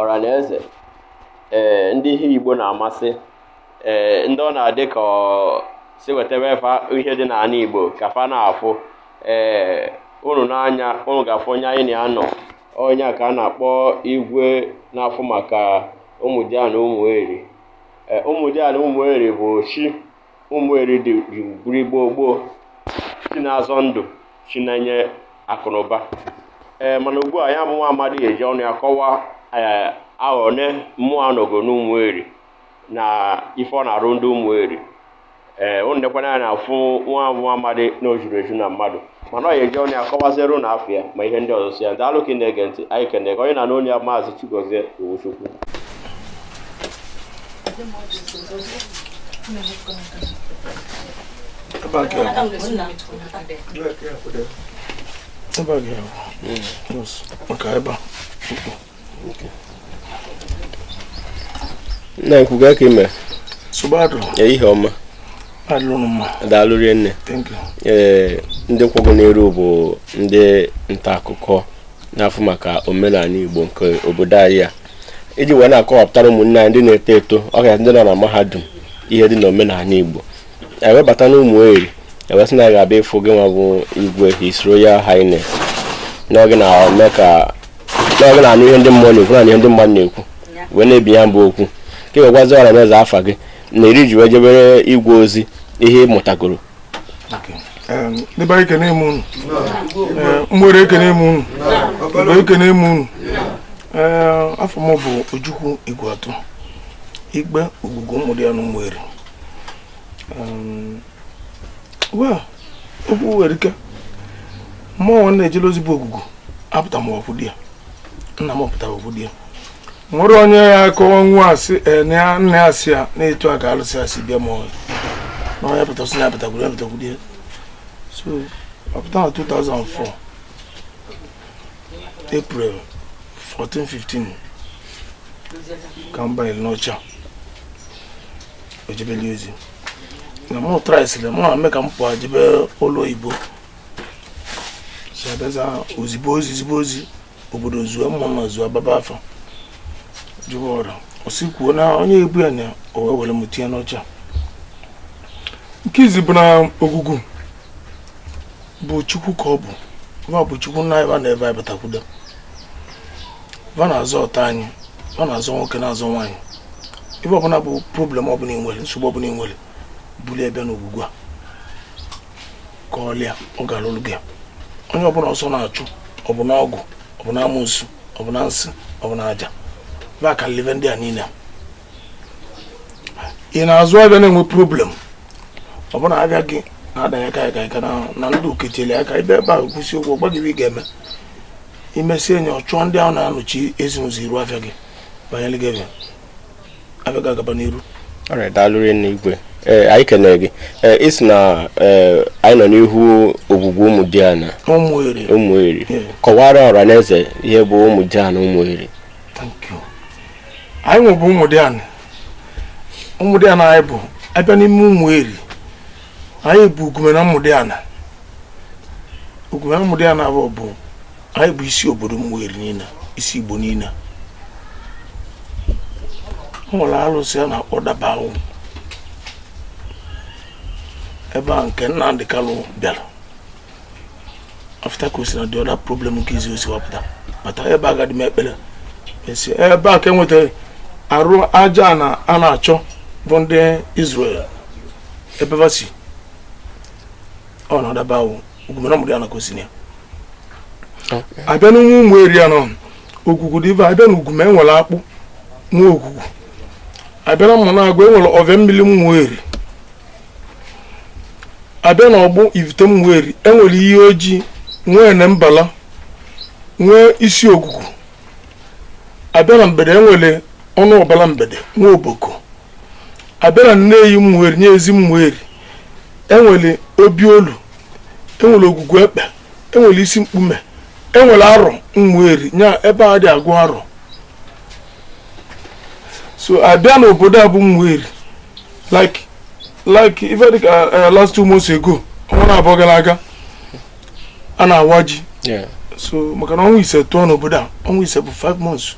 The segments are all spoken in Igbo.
ọra na eze ee eh, ndị ihe igbo na-amasị ee eh, ndị ọ na-adị ka si wetebe fa ihe dị n'ana igbo ka fa na-afụ ee eh, unu nee anya unu ga-afụ onye anyị na ya nọ onye a ka a na-akpọ igwe na-afụ maka ụmụdiana ụmụeri ụmụdiana ụmụeri bụ chi ụmụeri dịbu eri gboo gboo chi na-azọ ndụ chi na-enye akụnụba ee mana ugbu a ya bụ nwa amadi ya-eji ọnụ ya kọwaa ee ahọ one mmụọ a nọgo n'ụmụeri na ife ọ na-arụ ndị ụmụeri ee ụnụ nekwa anya na afụ ya bụ nwa amadi na o juru eju na mmadụ mana ọ ya eji ọnụ ya kọwaziere ụnụ afa ya ma ihe ndị ọzọ so ya daalụ ka ị na-ege ntị anyị ekenego onye na-anọnye ya maazị Chigozie Owuchukwu nna ekwu gaa ka ị mere ihe ọma daalụ rinne ee ndị kwụ gị n'iru bụ ndị nta akụkọ na-afụ maka omenaanị igbo nke obodo anyị a iji wee na-akọwapụtara ụmụnne anyị ndị na-eto eto ọka ndị nọ na mahadum ihe dị na omenaanị igbo e wee bata na ụmụeri e wee sị na a ga-abịa ịfụ gị nwa bụ igwe his royal highness na ọ gị na-eme ka na ọ gị na-anụ ihe ndị mmụọ na-ekwu na ihe ndị mmadụ na-ekwu wee na-ebi ya bụ okwu ka ị wee gwazie ọra na eze afa gị na eri i ji wee jebere igwe ozi ihe ị mụtagoro ndị be anyị ekene m unu ụmụeri ekene m unu igbo ekene m unu afa m bụ ojukwu igweatụ igwe ogwugwu ụmụdiana ụmụeri um, well okwu erika mmụọ mụ nwa na-ejele ozi bụ ogwugwu apụta m kwudo ya nna m pụta kwudo ya nwere onye ya akọwa nwa asị eh, nna ya asị ya na etu a ka alụsị a si bịa ma ọ bụrụ na onye pụtasị na apụtakwuru ya pụtakwuru ya so apụta m na 2004 April 14 15 ka m banyere n'oche a jebeli ozi na mụ traịsịrị mụ na-eme ka m pụọ jebe ọlụ oyibo si abịaza o zibe ozi zibe ozi obodo zuo ụmụnna zuo a gbaba afa jụba arụsị kwuo na onye ọ bụ ya na o wee were m tinye n'oche a nke izi bụ na ogwugwu bụ chukwu ka ọ bụ va bụ chukwu nna anyị va na ebe anyị batakwudo va na-azọta anyị va na-azọ nwoke na-azọ nwaanyị ife ọbụla bụ problem ọbụla ị nwere nsogbu ọbụla ị nwere bulu bịa na Ogwugwu a ka ọlịa ọ gara olu gị onye ọbụla ọsọ na-achụ ọ bụ na ọgwụ ọ bụ na amusu ọ bụ na nsị ọ bụ na aja va kalị ive ndị a niile ị na-azụ avịa na-enwe problem ọ bụ na avịa gị na-adanye ka ka ka na ndị ukechele aka ị bịa ebe ahụ kwụsị ụgwọ gwa gị ị ga-eme i mesịa nya ọ chụọ ndị ahụ na-anọchi ezi n'ụzọ iru afịa gị banyere gị ebe avịa ga-agaba n'iru daalụ rinne igwe ee anyị kenere gị ee ị sị na anyị nọ n'ihu Ogwugwu Ụmụdịana Ụmụeri kọwara ọra na eze ihe bụ Ụmụdịana Ụmụeri anyị nwa bụ Ụmụdịana Ụmụdịana anyị bụ a bịa n'ime Ụmụeri anyị bụ Ugume na Ụmụdịana Ugume na Ụmụdịana bụ bụ anyị bụ isi obodo Ụmụeri niile isi igbo niile nwere alụsị a na-akpọ Dabawọ ebe a nke Nnamdi Kanu bịara after ka o si na the other problem nke izizi wapụta bata ebe a gadị mee ekpere e si ebe a ka e wetara arụ ajana a na-achọ bụ ndị Israel ebe va si ọ na Dabawọ Ugume na Ụmụdịana ka o si ya a bịa na nwa Ụmụeri ya nọ ogwugwu dị ibe a bịa na Ugume enwere akpụ nwa ogwugwu a bịa na Ụmụnagụ enwere ọvịa mmiri Ụmụeri a bịa na Ọgbụ Ivite Ụmụeri enwere iyi ojii nwee na mbala nwee isi Ogwugwu a bịa na Mgbede enwere ọnụ ọbala mgbede nwee oboko a bịa na Nneyi Ụmụeri nya Ezi Ụmụeri enwere obi olu enwere Ogwugwu Ekpe enwere isi mkpume enwere arọ Ụmụeri nya ebe a dị agụ arọ so a bịa n'obodo a bụ Ụmụeri like like ife dịka eh, eh, last two months ago ọnwa naabụọ gara aga a na-awa ji so maka na ọnwa ise tụọ n'obodo a ọnwa ise bụ 5 months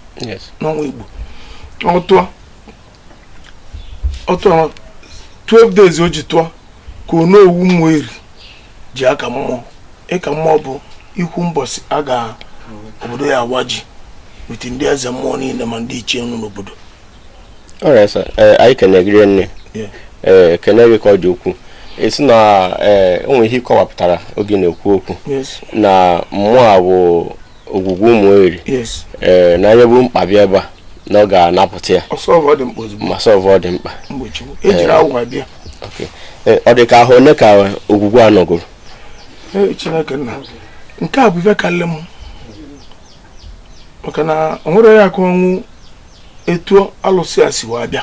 n'ọnwa Igbo ọ tụọ ọ tụọ 12 days o ji tụọ ka Onowu Ụmụeri ji aka mmụọ ịka mmụọ bụ ikwu mbọsị a ga obodo ya awa ji with ndị eze mmụọ niile ma ndị ichie nọ n'obodo alright sir eh, anyị kene gị rinne Yeah. ee kene gị ka ọ dị ukwuu ị sị na ee o nwere ihe ị kọwapụtara oge ị na-ekwu okwu yes na mmụọ a bụ ogwugwu ụmụeri ee eh, na onye bu mkpa bịa ebe a na ọ ga-anapụta ya ma sọlvụọ the mkpa e eh, ọ dị ka ahọ one ka ogwugwu a nọgoro chineke nna nke a bụ ife kalị m maka na o nwerọ onye ga-akọnwu etu alụsị a si wee bịa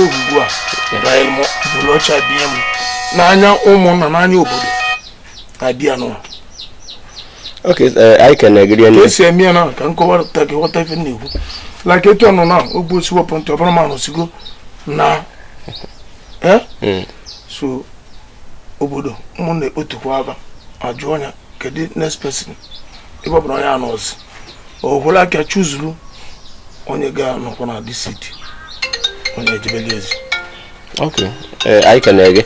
ugbu a bụrụ ọcha bie m n'anya ụmụnna n'anya obodo abịa n'ụwa okay eh, anyị ka na-egiri ka e si eme ya na ka m kọwaa ka ị ghọta ife m na-ekwu like etu ọnụ na ogbu osi wepụ ntị ọ bụrụ m anọsịgo na eh? hmm. so obodo ụmụnna ekpotukwa ava ajụọ ya kedu next person ịgbabara onye anọzi o wolu aka chuzuru onye ga-anọkwa na this seat onye ejebeli ya ozi ok eh, anyị ka na-ege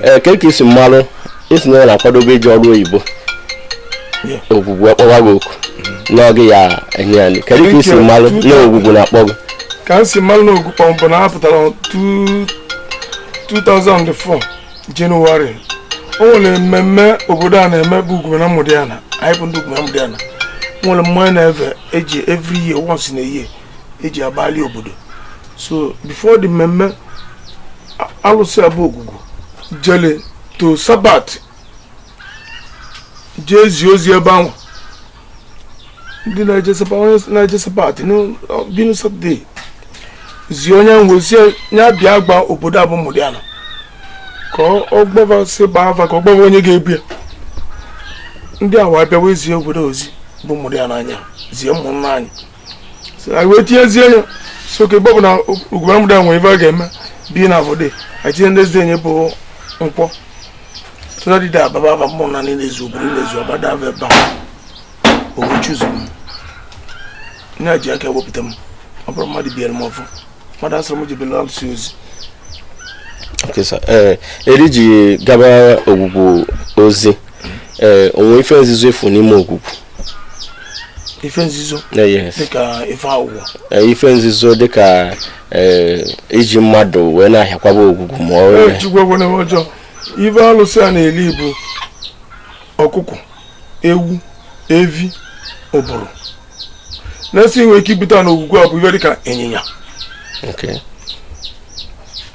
eh, ka ka i si malụ ị sị na ị na-akwadobe ije ọrụ oyibo ogwugwu akpọwa gị oku mm-hmm. n'oge ya enye ya kedu ka i si malụ na ogwugwu na-akpọ gị ka m si malụ na ogwugwu kpọ m bụ na a pụtara 2004 jenụwarị o nwere mmemme obodo a na-eme bụ ugume na ụmụdịana anyị bụ ndị ugume na ụmụdịana o nwere mmanya na ive e ji every year once in a year e ji agbali obodo so before the mmemme alụsị a bụ ogwugwu jele to sabat jee zie ozi ebe ahụ ndị na-eje sabat being satọde zie onye nwe ozi a bịa gwa obodo a bụ ụmụdịana ka ọ gbaa ava sị gbaa ava ka ọ gbaa ava onye ga-ebu ya ndị a wee bịawa ezie obodo ozi bụ ụmụdịana anyị zie ụmụnna anyị anyị wee tinyezie ya so ka ebe ọ bụ na ugume na ụmụdịana nwere ife a ga-eme being Friday anyị tinye ndị ezi enye bụ nkwọ so that day a gbava ava ụmụnna niile ezue obodo niile ezue ọ gbata ava ebe a o wee chuzu m na ya ji aka ewepụta m ọ bụrọ mmadụ biere m ọfọ mmadụ asịrọ m jebere alụsị ozi eh, eri i ji gaba ogwugwu ozi ee eh, o nwe ife nzuzo ị fụ n'ime ogwugwu ife nzuzo eh, dịka ife awụwọ ife nzuzo dịka eh, iji mmadụ wee na-ahịakwaba ogwugwu ma ọ wee ejigwagwana m ọjọọ ive alụsị a na-eli bụ ọkụkọ ewu evi ọ bụrụ na a sị nwere ike ibute na ogwugwu a bụ ive dịka ịnyịnya Okay.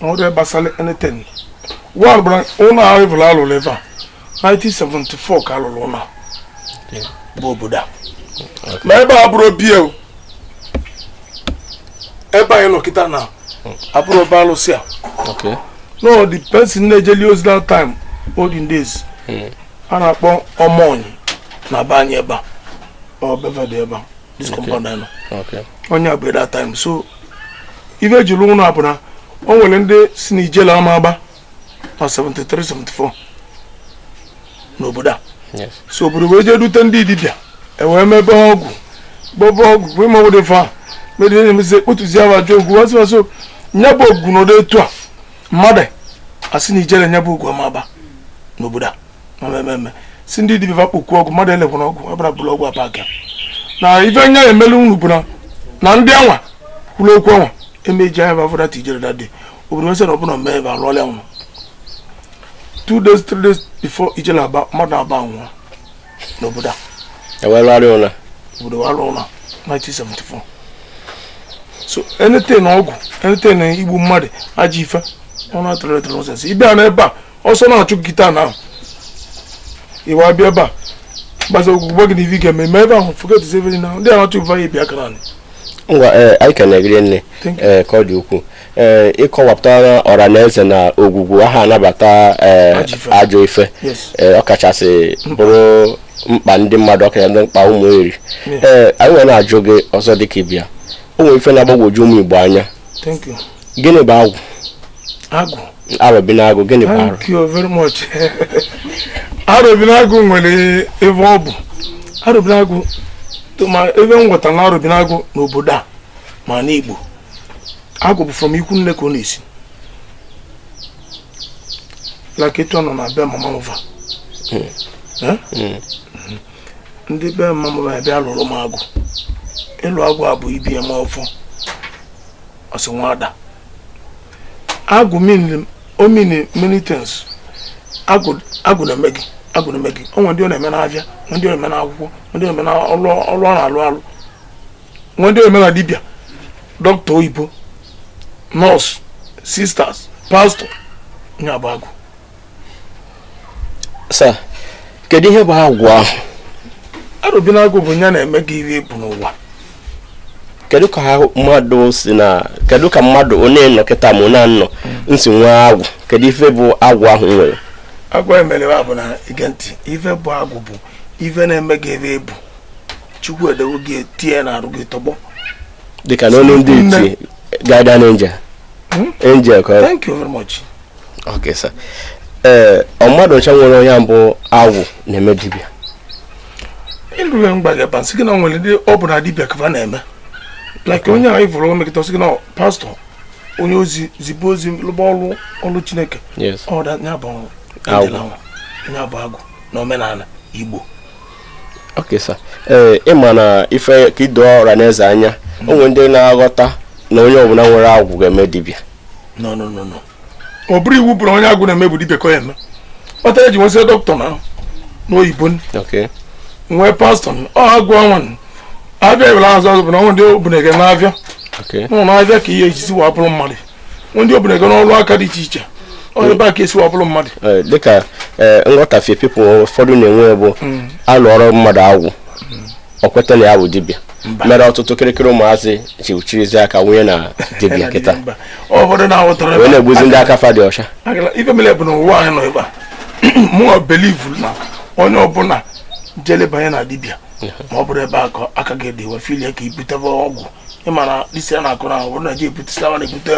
ọrụ gbasara anything ọbara ụlọ ahụ ọbụla alụrụ ebe a 1974 ka alụrụ ụlọ bụ obodo a ma ebe a bụrụ bie ebe anyị nọ kịta na abụrụ ebe alụsị a no the person na-ejeli ozi that time olden days hmm. a na-akpọ ọmọnyị na be anyị ebe a ọ be va dị ebe a this compound anyị nọ ọ nya bụ that time so ife e jiri ụlọ a bụ na o nwere ndị sị na ijele ama agba na 73 74 n'obodo a so obodo wee jee dute ndị dibịa ewee mebe ọgwụ gbọba ọgwụ bụ ime obodo fa medịe na-emezi ekpotuzi ahụ ajọ ọgwụ wazi wazi nya bụ ọgwụ n'ụdị etu a mmadụ asị na ijele nya bụ egwu ama agba n'obodo a ma mmemme si ndị dibịa fa kpokwu ọgwụ mmadụ elekwana ọgwụ ọbara bụrụ ọgwụ abaka na ife nya emelu unu bụ na ndị anwa kwuru okwu anwa emeji anya bavụdata ijele dade obodo nwesị na ọbụla mee ebe arụọla ya nwụrụ two days three days before ijele aba mmadụ aba nwụọ n'obodo a ewelụgharị ụla obodo wa alụ ụlọ 1974 so anything ọgwụ anything igbu mmadụ ajọ ife ọ na-atụrụ etụrụ nọsensị ịbịa na ebe a ọsọ na-achụ gị ta na ahụ ị wee bịa ebe a gbaza ogwu gwa gị na ive ị ga-eme ma ebe ahụ forget everything now ndị a na-achụ ife anyị bịa aka naanị ngwa ee anyị ka na-egiri nne Thank you. ee ka ọ dị ukwuu ee eh, ịkọwapụtara ọra na eze na ogwugwu aha anabata eh, ajọ ife eh, ọkachasị bụrụ mkpa ndị mmadụ ọkara ndị mkpa Umueri ee anyị wee na-ajụ gị ọzọ dịka dibịa o nwere ife na-agbagwoju ụmụ igbo anya gịnị bụ agwụ agwụ arobinagụ gịnị bụ arụ thank you very much arobinagụ nwere ebe ọ bụ arobinagụ ma ebe m ghọtara na arobinagụ n'obodo a ma n'igbo agwụ bụ from ikwu nne ka ọ na-esi like etu ọ nọ na be mama mụva hmm. Eh? Hmm. ndị be mama mụva bịa lụrụ m agwụ ịlụ agwụ a bụ ibi eme ọfọ ọsị nwada agwụ ọ mean many things agwụ na-eme gị agwụ na-eme gị o nwe ndị ọ na-eme n'avịa ndị ọ na-eme n'akwụkwọ ndị ọ na-eme n'ọrụ ọ na-alụ alụ nwe ndị ọ na-eme na dibịa dọkịta oyibo nọọsụ sisters pastọ nya bụ agwụ sir kedu ihe bụ agwụ ahụ arobinagụ bụ ya na-eme gị ihe ị bụ n'ụwa kedu ka mmadụ si na kedu ka mmadụ onye nọ kịta ma onye anọ nsi nwee agwụ kedu ife bụ agwụ ahụ nwere agwụ emere bụ na ị gee ntị ife bụ agwụ bụ ife na-eme gị ife ị bụ chukwu edewo gị etinye na arụ gị tọgbọ dịka n'olu ndị iti guardian angel hmm? angel ka thank you very much okay sir ee eh, ọ mmadụ ncha nwere onye bụ agwụ na-eme dibịa ịrụrụ mgba gị ebe nsị gị na nwere ndị ọ bụ na dibịa ka na-eme like onye ahụ ị vụrụ o mekata ọ sị gị na pastọ onye ozi zibe ozi lụba ọrụ ọrụ chineke ọ da ya bụ agwụ na omenala igbo okay sir ee eh, ị ma na ife ka ido ọra na eze anya o nwere ndị na-aghọta na onye ọbụla nwere agwụ ga-eme dibịa no no no no ọ bụrọ iwu ọ bụrọ onye agwụ na-eme bụ dibịa ka ọ ya-eme otu a eji nwesị dọkịta na n'oyibo nwee pastọ ọ agwụ ọnwa avịa ewere azụ azụ bụ na o nwe ndị o bu na-aga n'avịa ụlọ avịa ka ihe ejizi wa bụrụ mmadụ ndị o bu na-aga n'ọrụ aka dị iche iche ebe a ka esi wa bụrụ mmadụ eh, dịka eh, nghọtafie pipụl ụfọdụ na-enwe bụ hmm. a lụọrọ mmadụ agwụ o kweta na ya bụ dibịa mere ọtụtụ kịrịkịrị ụmụazị ji chirizi aka wụnye na dibịa kịta wee na-egbuzi ndị aka fa dị ọcha ife mere bụ na ụwa anyị nọ ebe a mụọ belivu na onye ọbụla jele banye na dibịa ma ọ bụrọ ebe akara aka gị dị wee filie ka i butebe ọgwụ ị ma na isi a na-akụ na ọ bụrụ na gị ebutesi awa na-ebute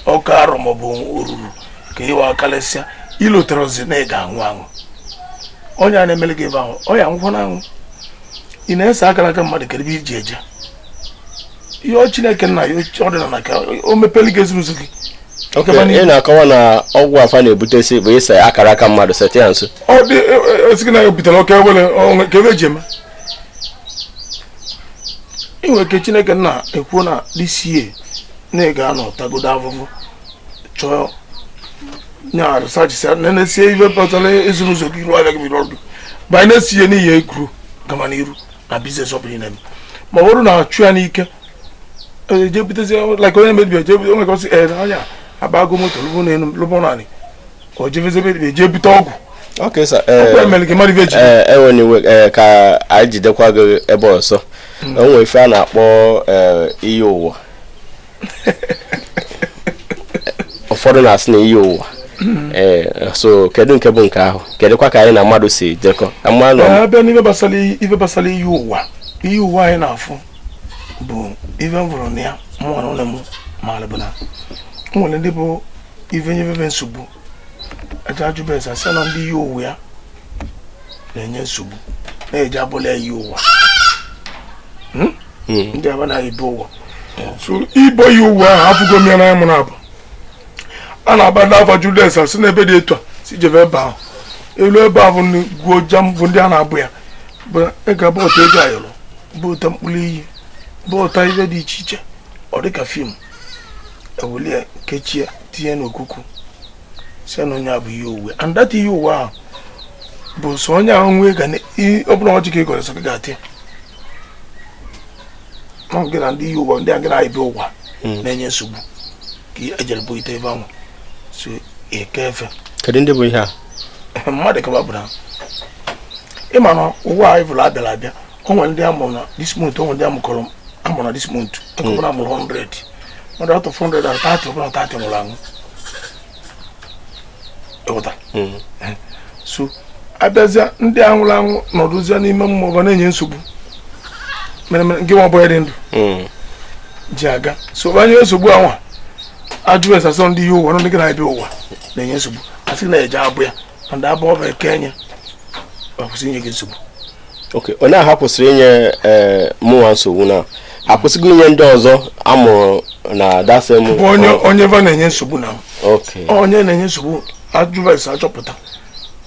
ọka arọ maọbụ oruru ka ịwa karịsịa i loterọzi na ị ga-anwụ anwụ onye a na-emere gị ebe ahụ ọ ya-anwụkwọ na anwụ ị na-ese akara aka mmadụ kedụ ebe i ji eje ị yọọ chineke nna ya ọdịnala ka o mepere gị ezi n'ụzọ gị Ok, ọ gaba n'ihu. ị na-akọwa na ọgwụ a fa na-ebutesi bụ ise akara aka mmadụ sete ya nso ọ dị esighị na ya butere oke awele o nwe ka ebe eji eme ị nwere ike chineke nna ekwuo n'isi ya na ị ga-anọ tagodo avụvụ chọọ nyarụ sachisia nenesie ife pụtara ezi n'ụzọ gị iru avịa gị biri ọdụ banye n'isi ya n'ihi egwuru gama n'iru na biznes ọ bụla na-eme ma ọ bụrụ na a chụ ya n'ike ejebutezi like onye na-emebi ejebute onwe ka ọ sị ee na ya agbago moto lụba ụnọ elu lụba ụnọ anị o jebezi ebe eje ebute ọgwụ Okay, sir. Eh, ọgwụ e mere gị mmadụ ibe gị eh, enwere iwe eh, ka anyị jidekwa gị ebe ọzọ o nwere ife a na-akpọ eh, iyi ụwa ụfọdụ na-asị na iyi ụwa Eh, so kedu nke bụ nke ahụ kedụkwa ka ya na mmadụ si jekọ Ka mmadụ Ee, abịa n'ife gbasara iyi- ife gbasara iyi ụwa iyi ụwa anyị na-afụ bụ ife m vụrụ na ya mụ na ụlọ m maara bụ na o nwere ndị bụ ife nyefefe nsogbu eje ajụba ese asị na ndị iyi ụwa ya na-enye nsogbu na-eji abọla ya iyi ụwa hmm? Hmm. ndị aba na ebe ụwa so ibọ iyi ụwa ahụ abụgo m ya na mụrụ abụ a na-aba ndị afa jụde ese asị na ebe dị etu a si jebe ebe ahụ e lue ebe ahụ gwuo jam bụ ndị a na-abọ ya bụ ị ga-abọta ego ayọrọ bọta mkpụrụ iyi bọta ihe dị iche iche ọ dịka fim ewelie kechie tinye n'okuku si na onye a bụ iyi ụwa and that iyi ụwa ahụ bụ so onye ahụ nwee ga ọ bụla ọjị ka ị gọrọ sọ gị ga-atị gị na ndị iyi ụwa ndị a gị na-ebi ụwa hmm. na-enye nsogbu ka ejere bọ ite ebe ahụ so eke efe kedu ndị bụ ihe a mmadụ ka va bụ na ịma na ụwa anyị bụrụ abịara abịa onwe ndị amụrụ na this month onwe ndị amụkọrọ amụrụ na this month nke ọbụla amụrụ 100 mmadụ out of 100 and 30 ọbụla 30 nwụrụ anwụ ịghọta so abịazịa ndị a nwụrụ anwụ nọdụzịa n'ime mmụọ ga na-enye nsogbu mere mere nke nwa ọbụla dị ndụ ji aga so banye nsogbu anwa ajụ ese asị ọ ndị iyi ụwa nọ ndị gị na-abịa ụwa na-enye nsogbu asị na-eje abọ ya na ndị abụ ọba eke enye ọ kwụsị inye gị nsogbu okay onye ahụ kwụsịrị inye ee eh, mụnwa nsogbu na akwụsịgo inye ndị ọzọ amụrụ na that same bụ onye onye va na-enye nsogbu na onye na-enye nsogbu ajụva ese achọpụta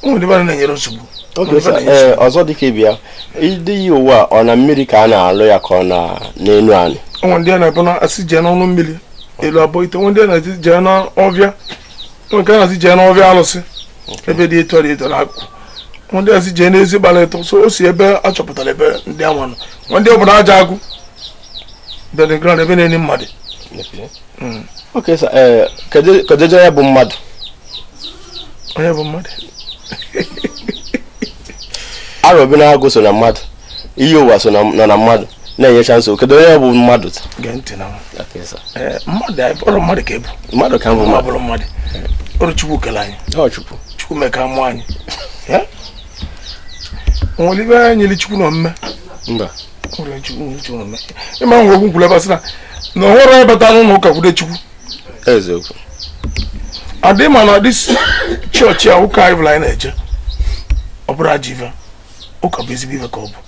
onye va na-enye nsogbu eh, ọzọ dịka ibi ya ịdị iyi ụwa ọ na mmiri ka a na-alụ ya ka ọ na n'elu anị onwe ndị a na-abụ na asị jee n'ọnụ mmiri e lue abọ ite onwe ndị a na-asị jee n'ọvịa onwe nke a na-asị jee n'ọvịa alụsị ebe dị etu dị etu onwe ndị asị jee n'ezi gbara etọ so o si ebe a chọpụtara ebe ndị anwa nọ onwe ndị ọ bụ n'aja agụ burial ground ebe a na-eni mmadụ hmm. okay sir eh, kedụ ife bụ mmadụ onye bụ mmadụ arọ bi n'agụ so na mmadụ iyi ụwa so na mmadụ na-enyecha nsogbu kedu onye bụ mmadụ eh, mmadụ ka ị bụ mmadụ ka m bụ mmadụ mmadụ ọrụ chukwu kele anyị chukwu chukwu mee ka mụ anyị eh? nwere ibe anyị nyere chukwu na omume ịma nwe okwu kwuru ebe asị na na ọ bụrụ anyị bata n'ụlọ ụka kwude chukwu adị ma na ọdị chọọchị a ụka anyị bụla anyị na-eje ọ bụrọ ajọ ife ụka bụ ezigbo ife ka ọ bụ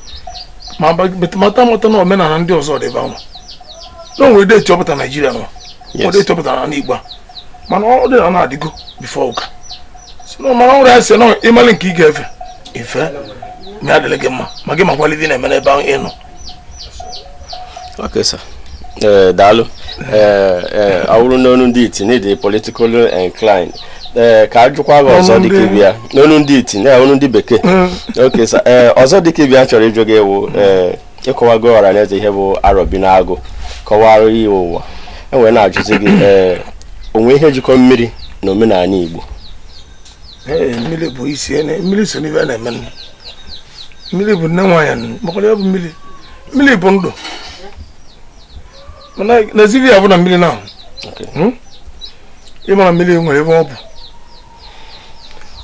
but mata amata na omenala ndị ọzọ dịba nwa na onwere date ọpụta Nigeria nwa ọ date ọpụta na anị igbo mana ọdịnana adịgo before ụka so mana ọ nwere ya si na ịmalị nke ị ga-efe ife mee adịrị gị mma ma gị makwala ife na-eme n'ebe ahụ ịnọ Okay, sir. Uh, daalụ ọ wụrụ n'onu ndị iti na ị dị political incline ee ka a jụkwa gị ọzọ dịka ibe ya n'onu ndị iti na onu ndị bekee mm. ok sa ee ọzọ dịka ibe ya m chọrọ ịjụ gị wụ ee ị kọwagoro ọra na eze ihe bụ Arọbịnagụ kọwara ihe ụwa e wee na-ajụzi gị ee o nwe ihe jikọ mmiri na omenala igbo mmiri bụ isi mmiri so n'ive na-eme mmiri bụ nne nwaanyị makwara ya bụ mmiri mmiri bụ ndụ mana n'ezie ive ya bụ na mmiri na hmm? ị ma na mmiri nwere ive ọ bụ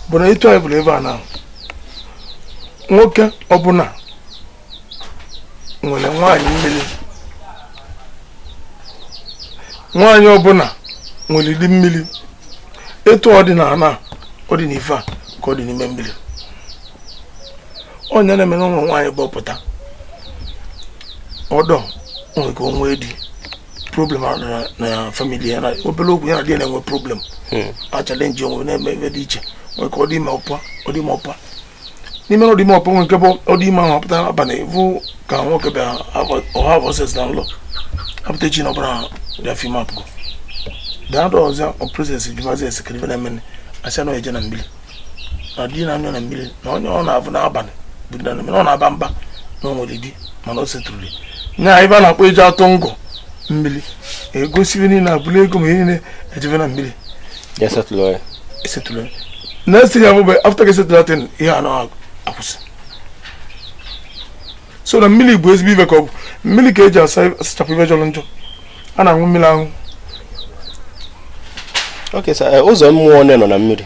bụ na etu anyị bụrụ ebe a na nwoke ọbụla nwere nwaanyị mmiri nwaanyị ọbụla nwere di mmiri etu ọ dị n'ala ọ dị n'ife a ka ọ dị n'ime mmiri ọ nya na-eme na o nwere nwaanyị bụ ọ pụta ọdọ o nwere ike o nwee di problem na famili ya na obere okwu ya na di na-enwe problem hmm. a challenge onwe na-eme ebe dị iche nwere ike ọ dị ime ọ pụa ọ dị ime ọ pụa n'ime ọ dị ime ọ pụa o nwe nke bụ ọ dị ime a pụta abalị ị vụ ka nwoke bịa ọ have ọ sex na ụla a pụta echi na ọbala abịa fim ọ pụgo daa dọ ọzọ ọ process jụmazi ese kee ife na-eme nụ a sị na ọ na-eje na mmiri na di na anyụ na mmiri na onye ọ na-avụ n'abalị bụ na mmiri ọ na-aba mba na o nwere di mana o setụrụli nya ive a na-akpọ eji atụ ngọ mmiri e gosi ive niile abụla ego ma niile e jebe na mmiri ya setụlụ ya esetụlụ ya next thing a vụve after e setụlụ that thing ihe a na-akwụsị so na mmiri bụ ezigbo ive ka ọ bụ mmiri ka e ji asachapụ ive jọrọ njọ a na-aṅụ mmiri aṅụ ok sir ụzọ mmụọ one nọ na mmiri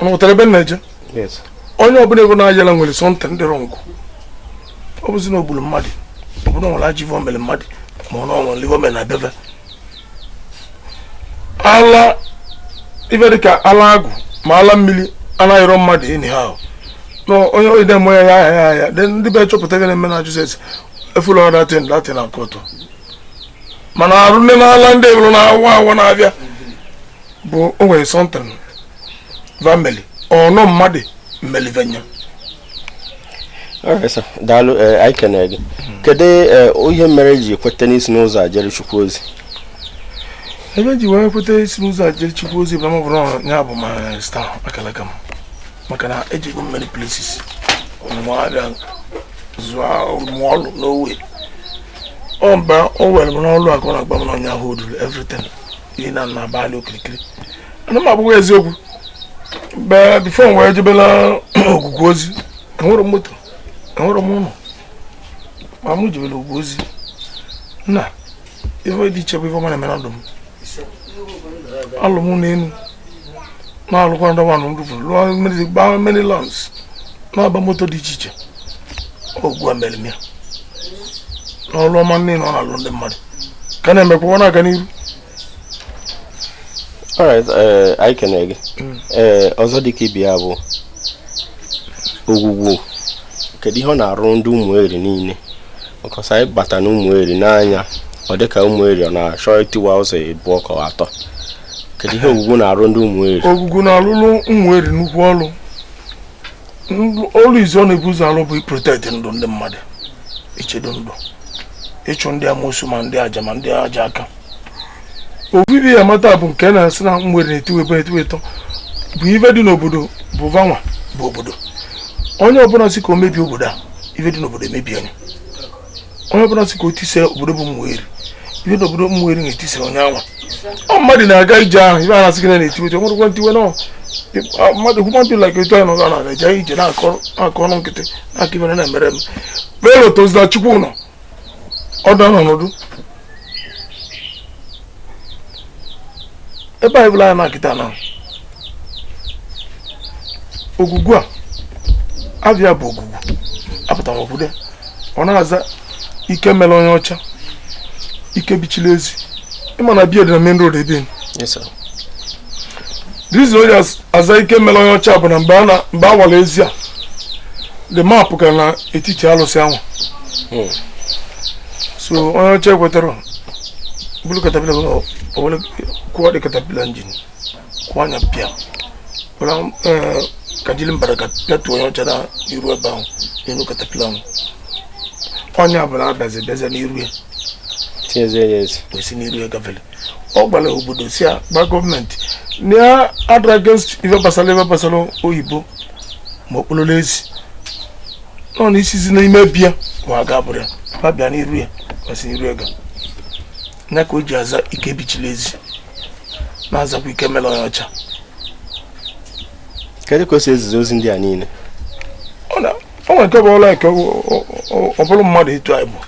unu ghọtara ebe m na-eje onye ọbụla ị vụ na-aya ala nwere something dị wrong ọ bụzi na o gburu mmadụ ọ bụrụ na o nwere ajọ ive o mere mmadụ ma ọ nọrọ n'ive o mere na be ve ala ife dịka ala agwụ ma ala mmiri anaghịrọ mmadụ anyhow na onye onye na-eme ya ya ya ya then ndị be chọpụta gị na-eme na jizọs efula that thing latin na kọtụ mana arụ nne n'ala ndị e buru na awa awa na-abịa bụ o nwere something va meli ọ na mmadụ meli ive nya daalụ eh, anyị kenee gị kedu eh, ihe mere i ji kweta n'isi n'ụzọ a jere chukwu ozi ebe m ji wee kweta isi n'ụzọ a jere chukwu ozi bụ na m vụrụ ya bụ my star akalaka m maka na ejego m many places ọnụmụ abịa zụọ ọmụmụ ọlụ n'owe ọ mba o were m n'ọlụ akụ na-agba m n'ọnya hụ oduru everything ihe na nna abalị okirikiri ana m agwa gị eziokwu but before m wee jebela ogwugwu ozi enwere m moto enwere m ụlọ ma m jebela ogwugwu ozi na ife dị iche bụ ife ọma na-eme na ndụ m alụọ m ụnọ enu na-alụkwa ndị nwanụ ndị furu lụọ mmiri gbaa many lands na-agba moto dị iche iche ogwugwu a mere m ya na ọrụ ọma niile ọ na-alụ ndị mmadụ ka na-emekwa ọ na-aga n'iru alright eh, anyị kenere gị mm. eh, ọzọ dịka ibe ya bụ ogwugwu kedu ihe ọ na-arụ ndị ụmụeri niile because anyị bata na ụmụeri n'anya ọ dịka ụmụeri ọ na-achọ itiwa ụzọ ịbụọ ka atọ kedu ihe ogwugwu na-arụ ndị ụmụeri ogwugwu na-alụrụ ụmụeri nnukwu ọrụ ọrụ izi ọ na-ebu ụzọ alụ bụ iprotect ndụ ndị mmadụ ichedo ndụ ịchụ ndị amosu ma ndị aja ma ndị aja aka obibi ya mata bụ nke na-asị na ụmụeri na-etiwe ịbụọ etiwe ịtọ bụ ife dị n'obodo bụ vanwa bụ obodo onye ọbụla sị ka o mebie obodo a ife dị n'obodo emebie nya onye ọbụla sị ka o tise obodo bụ ụmụeri ife dị n'obodo ụmụeri na-etise onye anwa ọ mmadụ na-aga ije ahụ ife a na-asị gị na na-etiwe etiwe nwerekwa ntiwe nọ mmadụ human being like etu anyị nọ ga na-aga ije ije na-akọ ọnụ nkịtị na-aka ife na-emere m belo tozila chukwu nọ ọdụ ọnọdụ ebe anyị bụla anyị na-akịta na ogwugwu avịa bụ ogwugwu apụtara obodo ọ na-aza ike mere onye ọcha ike bichiri ezi ịma na be ya dị na main road ebe reason o ji aza ike mere onye ọcha bụ na mgbe a na- mgbe a wara ezi a the map ka na etiti alụsị anwa Hmm. so onye ọcha ekwetara buru caterpillar were owere kụọ the caterpillar engine kụọ nya pịa were eh, kajiri mbaraka pịatu onye ọcha na iru ebe ahụ n'elu caterpillar ahụ onye ọbụla adazi bịazi n'iru ya tinyezie ya ezi wee si n'iru ya gafere ọ gwara obodo sị ya gwa government na ya adịrọ against ife gbasara ife gbasara oyibo ma okpololo ezi nọ na isizi n'ime be ya ma a ga-abụrụ ya ma bịa n'iru ya ma si n'iru ya gaa ya ka o ji aza ike bichiri ezi na-azakwa ike mere onye ọcha kedu ka o si ezizi ozi ndị a niile ọ na o nwere nke bụ ọla eke ọ bụrụ mmadụ etu anyị bụ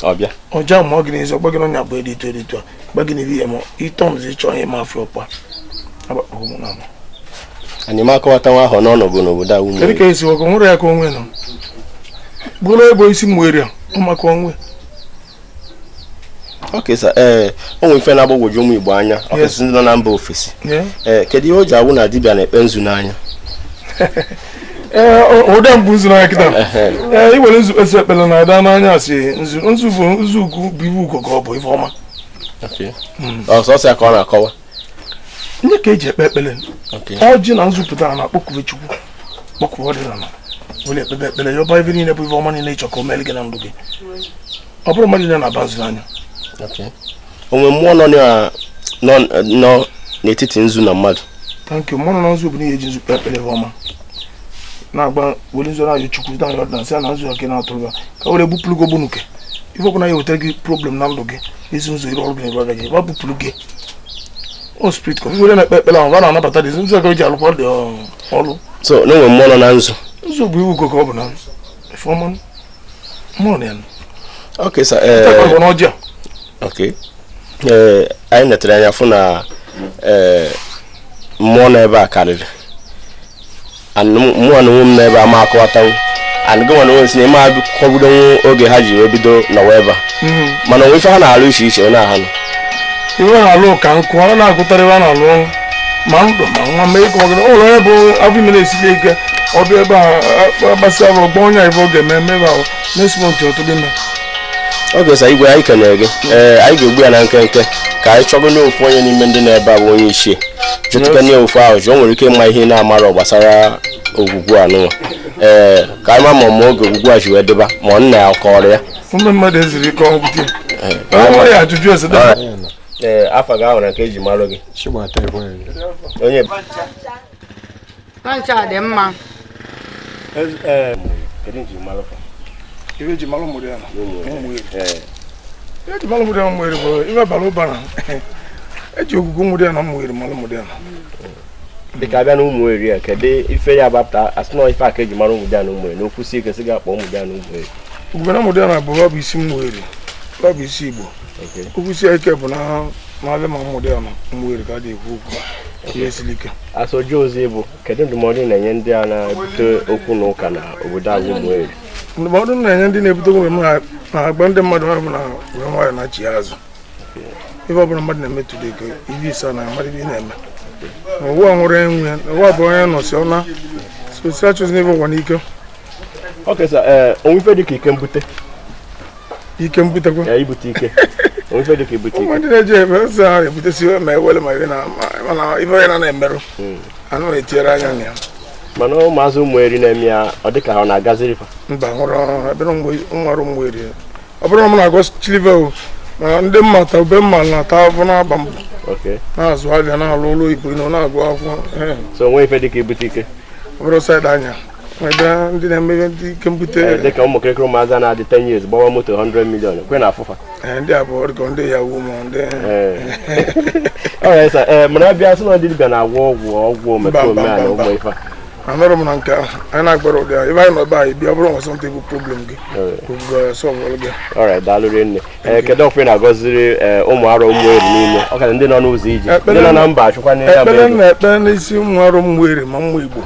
ọ bịa ọ jamụọ gị n'ezi ọ gbaa gị n'ọnya bụ edi etu edi etu a gba gị n'ihu ihe ma ị turnzi ịchọ onye ị ma afụ ọkpa agbakpọ gị mụ na mụ anyị ma akọwata nwa ahụ n'ọnọgụ n'obodo a ụmụeri kedu ka esi ọkụ nwere ya ka onwe nọ bụrụ ebe isi mwere ọmaka onwe okay sir ee eh, o nwere ife na-agbagwoju ụmụ Igbo anya ọkasị ndị nọ na mba ofesi ee eh, kedu ihe o ji awụ na dibịa na-ekpe nzu n'anya ee eh, ụda mbụ nzu n'anya kịta ee iwere nzu kpesị ekpere na-aba n'anya asị nzu nzu bụ nzu ugwu bụ iwu ugo ka ọ bụ ife ọma sọsọ hmm. ya ka ọ na-akọwa nya ka eji ekpe ekpere ọjị na nzu pụta na-akpọkue Chukwu kpọkue ọdịnala were ekpebe ekpere yọba ife niile bụ ife ọma niile ịchọ ka o meere gị na ndụ gị ọ bụrụ mmadụ niile na-aba nzu n'anya o nwe mmụọ nọ n'etiti nzu na mmadụ thank you mmụọ nọ na nzu bụ n'ihe eji nzu kpe ekpere ọma na-agba were nzu na-ayọ Chukwu na-ayọ ọdịnala sị na nzu ọka na-atụrụ ya ka were bupụrụ gị ogbunuke ife ọbụla ya-ewetara gị problem na ndụ gị ezi ụzọ iru ọrụ gị na-eru gị wa bupụrụ gị ọ spirit ka were na-ekpe ekpere ahụ a na-anabata dị ụzọ gị ji alụkwa dị ọrụ so na o nwe mmụọ nọ na nzu nzu bụ iwu ugo ka ọ bụ na ife ọma mmụọ na ya okay sir eh, ee na ọjọọ okay ee eh, anyị netere anya fụ na ee eh, mmụọ nọ ebe a karịrị mụnwa na onwe m nọ ebe a ama akọwatanwu and gịnwa na onwe si na ịma kọgbudenwu oge ha ji wee bido nọwa ebe a Mhm. mana o nwe ife ha na-alụ iche iche onye ahụ iwe na-alụ ka nkụ ọ na-agụtara ebe a na-alụ ọrụ ma ndụ ma nwa mee ka ọgara ụlọ onye bụ afọ ime na-esiri ike ọ bịa ebe a gbasịa bụ ọgbọ onye ife ọ ga-eme eme ebe ahụ next month ọ tụrụ ime okay sir igwe anyị kenere gị ee anyị ga-egbu ya na nkenke ka anyị chọgo nye ofu onye n'ime ndị nọ ebe a bụ onye ichie jụtụkwa nya ofu ajụjụ o nwere ike ịma ihe na-amarọ gbasara Ogwugwu a nụnwa ee ka anyị ma ma ma oge Ogwugwu a ji wee dịba ma ọ nna ya kọrọ ya ụmụ mmadụ ezuru ike ọgwụ bute ọ nwere ya ajụjụ ese dara ee afa gị ahụ na nke eji marụ gị Chigbata Ikwere. onye Pancha dị mma. Kedu nji malụ fa? Ife eji malụ Ụmụdiana Ụmụeri. Ife eji malụ Ụmụdiana Ụmụeri bụ ife bara ụba na eji Ogwugwu Ụmụdiana Ụmụeri malụ Ụmụdiana. dịka abịa na Ụmụeri a kedu ife ya gbapụta asị na ife a ka eji mara Ụmụdiana Ụmụeri n'okwu sie ike sị ga-akpọ Ụmụdiana Ụmụeri. Ogwugwu Ụmụdiana bụ ọ bụ isi Ụmụeri ọ bụ isi Igbo. okwu sie ike bụ n'ama Ụmụdiana Ụmụeri ka dị ekwu okwu ihe siri ike ajụjụ ọzọ bụ kedu ndụmọdụ ị na-enye ndị a na-ebute okwu na ụka na obodo anyị Ụmụeri ndụmọdụ m na-enye ndị na-ebute okwu na agba ndị mmadụ ha bụ na were nwayọ na chi azụ ife ọbụla mmadụ na-eme today ka ibe ise na mmadụ ibe na-eme ụwa nwere enwe ụwa bụ onye nọsịa ọ naa so si achụzina ife ụwa n'ike okay sir ee o nwe ife dịka ike mbute ike mbutekwa ya ibute ike o nwe ife dịka ibute ike ndị na-eji eme ụzọ ahụ ebutesi ma ewele ma ibe na ibe onye na-emerụ hmm. anụ etinyere anya na ya mana ụmụazị Umueri na-eme ya ọ dịka ọ na-agaziri fa mba nwụrụ ọrụ ebe nwere Umueri ọ bụrụ na m na-agọ chilive o mana ndị mma ta ube mma na-ata afọ na-agba mbọ na-azụ afịa na-alụ ọlụ oyibo na-agụ akwụkwọ so o nwe ife dịka ibute ike ọ bụrụ side anya ndị na-emebe ndị ike mbute eh, dịka ụmụ kịrịkịrị ụmụazị na-adị 10 years gbawa moto 100 million kwe na afụfa eh, ndị a bụ ọ dịka ndị Yahoo ma ndị ọrịa eh. mana a bịa sị na ndị dibịa na-agwọ ọgwụ ọgwụ omekome a na ụmụ ife anọrọ m na nke ahụ anyị na-agbara ụdị ahụ ebe anyị nọ ebe anyị bịa bụrụ nwasọ ntị bụ problem gị solve gị ọrịa daalụ rinne eh, kedu ọfọ ị na-agọziri eh, ụmụ afọ Umueri niile ọ ọkara ndị nọ n'ụzọ ije ndị nọ na mba achụkwa n'ebe ekpere na-ekpe n'isi ụmụ afọ Umueri ma ụmụ Igbo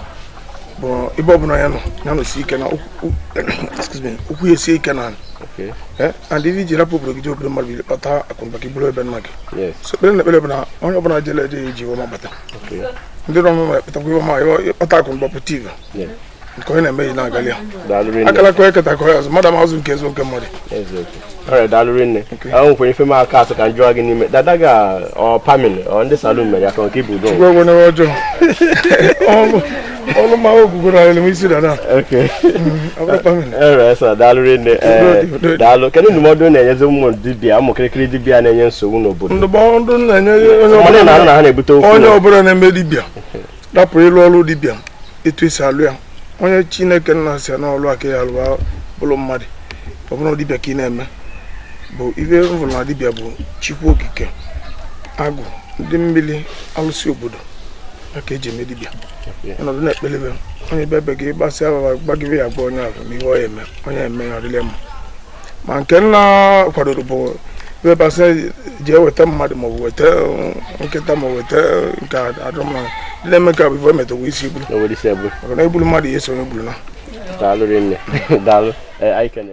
bụ ebe ọ bụla ya nọ ya nọsi ike na ụkwụ ya esie ike na eh, and ife i ji rapụ obodo gị je obodo mmadụ kpata akụnụba gị buru be nna gị so ekpere m na-ekpere bụ na onye ọbụla jele ije eji ife ọma bata ndị nọ n'ụlọ eketakwa ife ọma ị kpata akụnụba pụta ive nke onye na-eme ji na-agali ya akalaka onye keta ka onye azụ mmadụ amazụ nke eziokwu mmadụ daalụ rinne a nwekwara ife m aka asị ka m jụọ gị n'ime dada ga ọ pamil ọ ndị salon mere ya ka nke bụ Udo ọrụ ma Ogwugwu alụm isi dada eresa daalụ rinne daalụ kedu ndụmọdụ ị na-enyezi ụmụ dibịa ụmụ kịrịkịrị dibịa na-enye nsogbu n'obodo ndụmọdụ m na-enye onye ọbụla na-ebute okwu onye ọbụla na-eme dibịa rapụ ịlụ ọlụ dibịa etu esi alụ ya onye Chineke Nna si na ọlụ aka ya alụwa bụlụ mmadụ ọ bụrụ dibịa ka ị na-eme bụ ive m vụlụ na dibịa bụ Chukwu Okike agwụ ndị mmiri alụsị obodo aka eji eme dibịa ọnọdụ na-ekpelebe onye bịa be gị gbasịa gbagịbe ya gwa onye ahụ ihe ọ ya-eme onye eme ya ọ dịlị ya mma ma nke m na-akwadorọ bụ ebe fa sị gị weta mmadụ maọbụ weta eh, nkịta ma weta eh, nke adịrọ mma ndị na-eme ka bụ ife emetọwa isi egburu o nwere isi ebu maka na egburu mmadụ ya eso onye gburu na daalụ rinne daalụ Eh, anyị kene